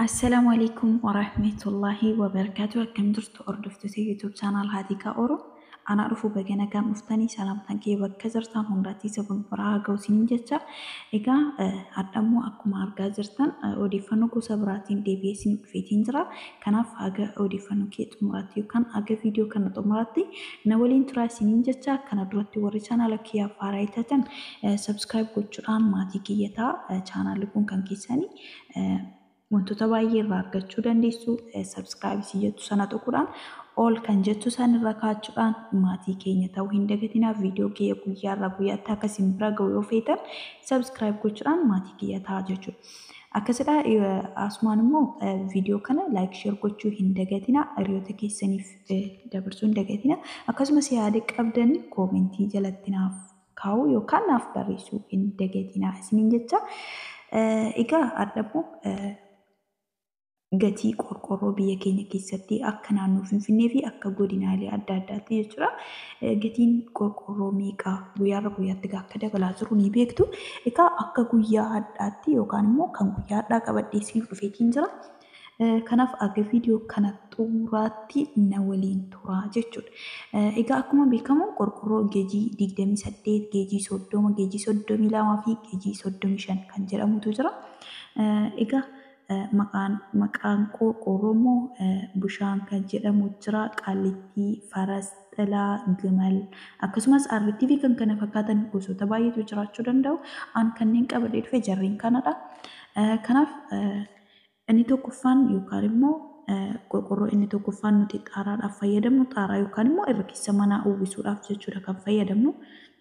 Assalamu alaikum wa rahmatullahi wa barakatuh. Akkam jirtu hordoftoota YouTube channel Haatiikaa Oro. Anaa dhufu baga nagaan dhuftanii salaamtaan kee bakka jirtan hundaatti isa kun biraa haa ga'u isiniin jecha. Egaa hadhammoo akkuma argaa jirtan odeeffannoo gosa biraatiin deebi'ee isiniif dhufeetiin jira. Kanaaf haga odeeffannoo kiyya xumuraatti yookaan haga viidiyoo kana xumuraatti na waliin turaa isiniin jecha kana duratti warri chaanaala kiyyaaf haaraa taatan subscribe gochuudhaan maatii kiyya ta'a chaanaalli kun kan keessani wantoota baay'ee irraa argachuu dandeessu subscribe isin jettu sana tuquudhaan all kan jettu san irra kaachuudhaan maatii keenya ta'uu hin dagatinaa viidiyoo kiyya guyyaa irraa guyyaatti akka isin bira ga'u yoo feetan subscribe gochuudhaan maatii kiyya ta'a jechuudha. Akkasidha asumaan immoo viidiyoo kana like share gochuu hin dagatina hiriyoota keessaniif dabarsuu hin dagatina akkasumas yaada qabdan koomentii jalatti naaf kaa'uu yookaan naaf barreessuu hin dagatina isiniin jecha egaa adhabmoo gatii qorqorroo biyya keenya keessatti akka naannoo Finfinnee fi akka godinaalee adda addaatti jechuudha. Gatiin qorqorroo meeqa guyyaarra guyyaatti egaa akka dabalaa jiru ni beektu. Egaa akka guyyaa hadhaatti yookaan immoo kan guyyaa hadhaa qabadhee isiniif dhufeetiin jira. Kanaaf aga viidiyoo kana xumuraatti na waliin turaa jechuudha. Egaa akkuma beekamu qorqorroo geejii 28, geejii 30, geejii 32 fi geejii 35 kan jedhamutu jira. Egaa maqaan maqaan koo Oromoo Bushaan kan jedhamu jira, Qaallittii, Faras, Xilaa, Gimal, akkasumas Arrittii fi kan kana fakkaatan gosoota baay'eetu jiraachuu danda'u. An kanneen qabadhee dhufe jarreen kanadha. Kanaaf inni tokkoffaan yookaan immoo qorqorroo inni tokkoffaan nuti xaaraadhaaf fayyadamnu xaaraa yookaan immoo irra keessa manaa uwwisuudhaaf jechuudha kan fayyadamnu.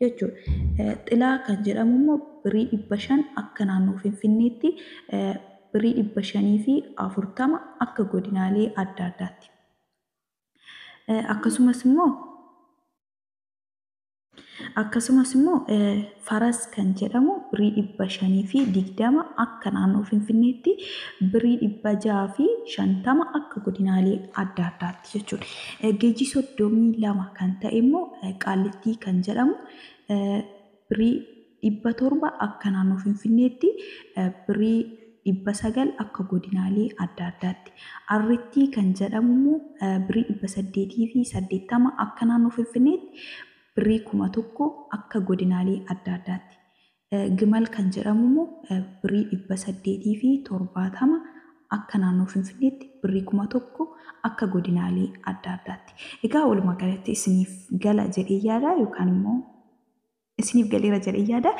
jechuudha. Xilaa kan jedhamu immoo birrii 500 akka naannoo Finfinneetti birrii 540 akka godinaalee adda addaatti. Akkasumas immoo akkasumas immoo faras kan jedhamu birrii 520 akka naannoo Finfinneetti birrii 650 akka godinaalee adda addaatti. jechuudha. Geejii 32 kan ta'e immoo Qaallittii kan jedhamu birrii 700 akka naannoo Finfinneetti, birrii 900 akka godinaalee adda addaatti. Arrittii kan jedhamu immoo birrii 880 akka naannoo Finfinneetti, birrii 1000 akka godinaalee adda addaatti. Gimal kan jedhamu immoo birrii 870 akka naannoo Finfinneetti, birrii 1000 akka godinaalee adda addaatti. Egaa walumaa galatti isiniif gala jedhee yaada yookaan immoo isiniif galeera jedhee yaada.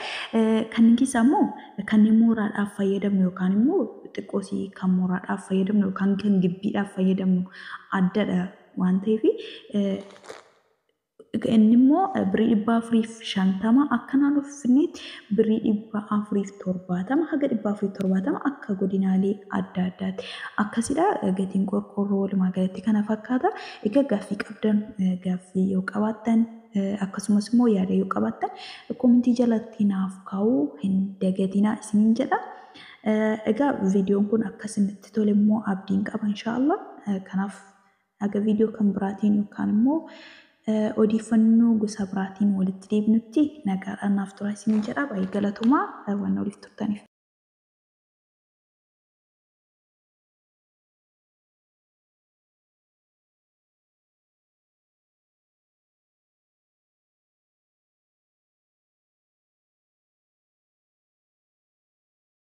Kanneen keessaa immoo kanneen mooraadhaaf fayyadamnu yookaan immoo xiqqoosii kan mooraadhaaf fayyadamnu yookaan kan gibbiidhaaf fayyadamnu addadha waan ta'eef Inni immoo birrii dhibba afuriif shantama akka naannoo Finfinneetti birrii dhibba afuriif torbaatama haga dhibba afuriif torbaatama akka godinaalee adda addaatti akkasidha. Gatiin qorqoorroo walumaa galatti kana fakkaata. Egaa gaaffii qabdan gaaffii yoo qabaattan akkasumas immoo yaada yoo qabaattan koomentii jalatti naaf kaa'uu hin dagatinaa isiniin jedha. Egaa viidiyoon kun akka isinitti tole immoo abdiin qaba inshaallah. Kanaaf Haga viidiyoo kan biraatiin yookaan immoo odeeffannoo gosa biraatiin walitti deebinutti nagaadhaan naaf turaa isiniin jedha. Baay'ee galatoomaa waan na waliif turtaniif.